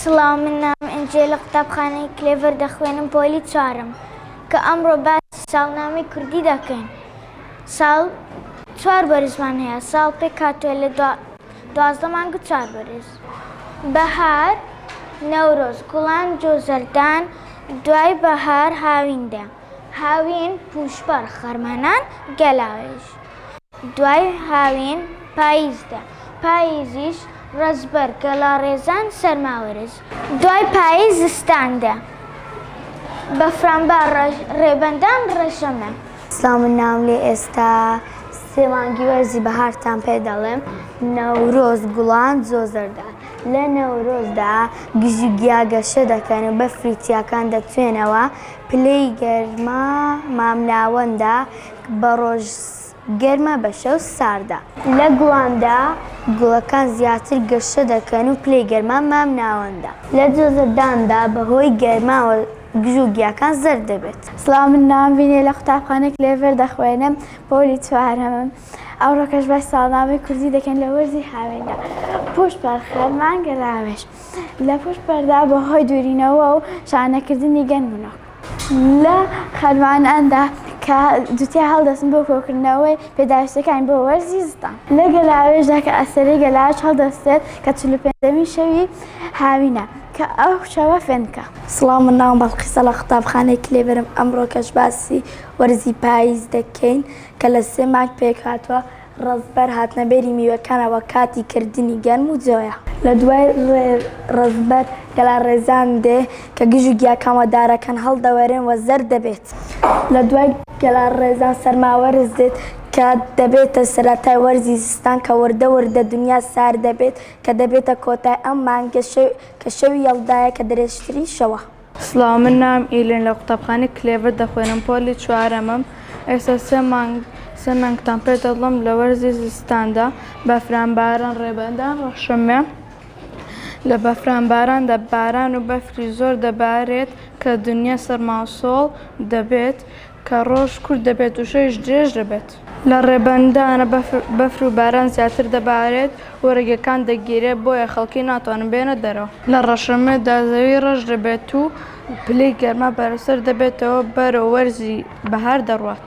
سڵاو من نام ئەنجێ لە قوتابخانەی کلێڤەر دەخوێنم پۆلی چوارم کە ئەمڕۆ باس ساڵنامی کوردی دەکەین ساڵ چوار بەرزمان هەیە ساڵ پێک هاتووە لە دوازدە مانگ چوار بەرز بەهار، نەورۆز، گوڵان جۆزەردان، دوای بەهار هاوین دێ، هاوین، پووشپەڕ، خەرمانان، گەلاوێژ، دوای هاوین پاییز دێ، پاییزیش، ڕەزبەر، گەلاڕێزان، سەرماوەرز، دوای پاییز زستان دێ، بەفرانبار، ڕێبەندان، ڕەژەمە. سڵاو من ناوم لێ ئێستا سێ مانگی وەرزی بەهارتان پێ دەڵێم نەورۆز گوڵان زۆ زەردە لە نەورۆزدا گژی گیا گەشە دەکەن و بەفری تیاکان دەتوێنەوە پلەی گەرما مامناوەندە بە ڕۆژ گەرمە بە شەو ساردە لە گوڵاندا گوڵەکان زیاتر گەشە دەکەن و پلەی گەرما مامناوەندە لە زۆ زەرداندا بەهۆی گەرماوە دژ و گیاکان زەرد دەبێت. سڵاو من ناوم ڤینێ لە قوتابخانەی کلێڤەر دەخوێنم پۆلی چوارەمم ئەوڕۆکەش باسی ساڵنامەی کوردی دەکەین لە وەرزی هاویندا پووشت پەڕ خەرمانگە ڕاوێژ لە پووشت پەڕدا بە هۆی دوورینەوە و شانەکردنی گەن منۆک لە خەرماناندا کە جوتیا هەڵدەستن بۆ کۆکردنەوەی پێداویستیەکانی بۆ وەرزی زستان. لە گەلاوێژدا کە ئەستێرەی گەلاوێژ هەڵدەستێت کە چل و پێنجەمین شەوی هاوینە کە ئەو شەوە فێنکە. سڵاو من ناوم بەڵقیسە لە قوتابخانەی کلێبەرم ئەمڕۆکەش باسی وەرزی پاییز دەکەین کە لە سێ مانگ پێکهاتووە ڕەزبەر هاتنە بێری میوەکانە وە کاتی کردنی گەرم و جۆیە لە دوای ڕەزبەر گەلا ڕێزان دێ کە گژ و گیاکان وە دارەکان هەڵدەوەرێن وە زەرد دەبێت لە دوای گەلا ڕێزان سەرما وەرز دێت کە دەبێتە سەرەتای وەرزی زستان کە وردە وردە دنیا سارد دەبێت کە دەبێتە کۆتای ئەم مانگە شەوی کە شەوی یەڵدایە کە درێژترین شەوە. سڵاو من ناوم ئیلین لە قوتابخانەی کلێڤەر دەخوێنم پۆلی چوارەمم ئێستا سێ مانگ سێ مانگ تەمپێ دەڵم لە وەرزی زستاندا بەفران باران ڕێبەندان ڕەشمێ لە بەفران باراندا باران و بەفری زۆر دەبارێت کە دنیا سەرماو سۆڵ دەبێت کە ڕۆژ کورت دەبێت و شەویش درێژ دەبێت. لە ڕێبەندانە بەفر و باران زیاتر دەبارێت و ڕێگەکان دەگیرێت، بۆیە خەڵکی ناتوانن بێنە دەرەوە. لە ڕەشەمێدا زەوی ڕەش دەبێت و پلەی گەرما بەرزتر دەبێتەوە، بەرەو وەرزی بەهار دەڕوات.